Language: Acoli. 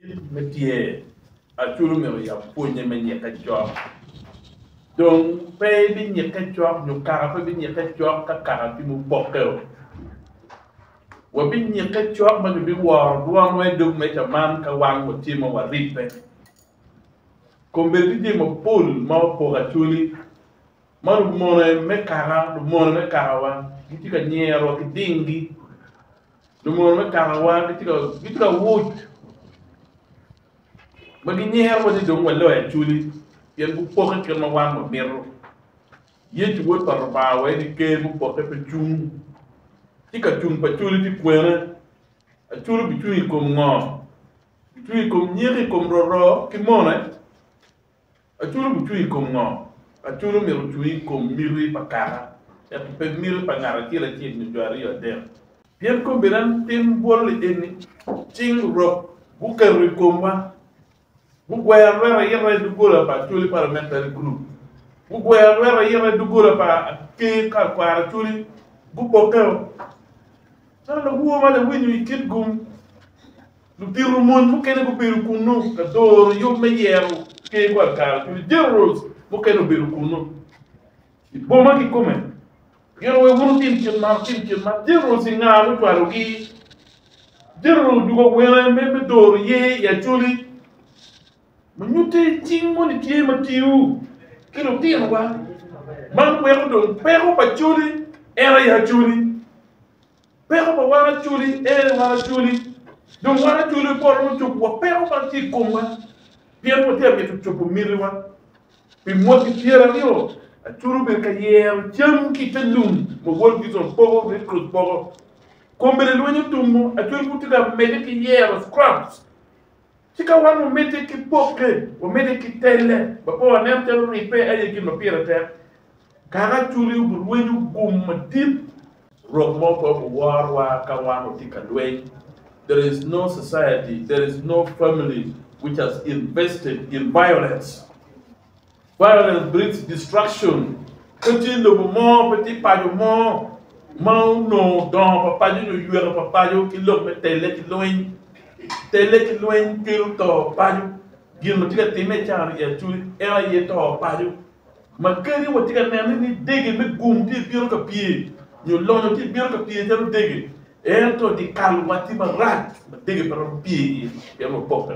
Kit me tye, Acwal omyero oyab pwonye me nyikke cok. Dong pe ebinyikke cok nyo kaka pe ebinyikke cok ka kaka ki mupokkeo. Wabinyikke cok ma kibiworo dwonwa i dog meja man ka wan watye ma waribbe. Kombeddi ki jami mapol ma opoko acwali ma lumone me kaka lumone me kakawa gitye ka nyerowa ki dinggi. Lungor me kakawa gitye ka wuc ma ginyero ni dong waloyo acoli pien gupokke kit ma wan wamito. Yecu Wod pa Lubanga wa en aye Ker mupokke pe cung. Ci ka cung pa acoli tye kwene? Acoli obicung i kom ngo? Bicung i kom nyeko, i kom roro ki mone? Acuru gucung i kom ngo? Acuru myero ocung i kom miti pa kaka, ento pe miti pa ngat acel acel nyo jo aryo adek. Pien kombeddi an tim bwol-li eni, Cing Rok guketo i komwa, gugweyo arweta ayita i doggola pa Acholi Parliamentary Group, gugweyo arweta ayita i doggola pa Aker ka Kwaro Acholi gubokkeo. Calo lawowa ma lawinyo i Kitgum, Lutito mony mukene gubedo kunnu ka doro yub me yero ker pa kare kun Generals mukene obedo kunnu i boma kikome. Giro wek wun wutim kit man, wutim kit man. Generals i nga mucwalogi? General odugo awene me me doro yer i Acholi ma nyutte cing moni tye ma tiyo ki lutinowa. Man weko dong peko pa Acholi era i Acholi. Peko pa wan Acholi, Ee wan Acholi, dong wan Acholi me polo dong cobo wa peko man ki i komwa pien watye ka mito cobo mitiwa. Pi mwaki pyer aryo, Acholi obedo ka yero cam ki i te lum ma World Vision poko, Red Cross poko. Kombeddi lweny otumo, Acholi pud tye ka medde ki yero, scraps. Ci ka wan wamedde ki pokke, wamedde ki telle, ma pe waneno calo ribbe aye gin ma pire tek. Kaka Acholi obi rwenyo gum madit. Rok mo pe oworowa ka wan otye ka lweny. There is no society, there is no family which has invested in violence. Violence brings destruction. Pe tye lobo mo, pe tye paco mo ma onongo dongo pa paco nyo yweka pa paco ki lok me telle ki lweny. Telle ki lweny kelo to paco. Gin ma tye ka timme i caro-ni i Acuri en aye to paco. ma kadi watye ka neno ni dege me gum tye bino ka pye nyo lonyo tye bino ka pye calo dege, ento dye kalowa tye marac ma dege pe romo pye iye pien wapokke.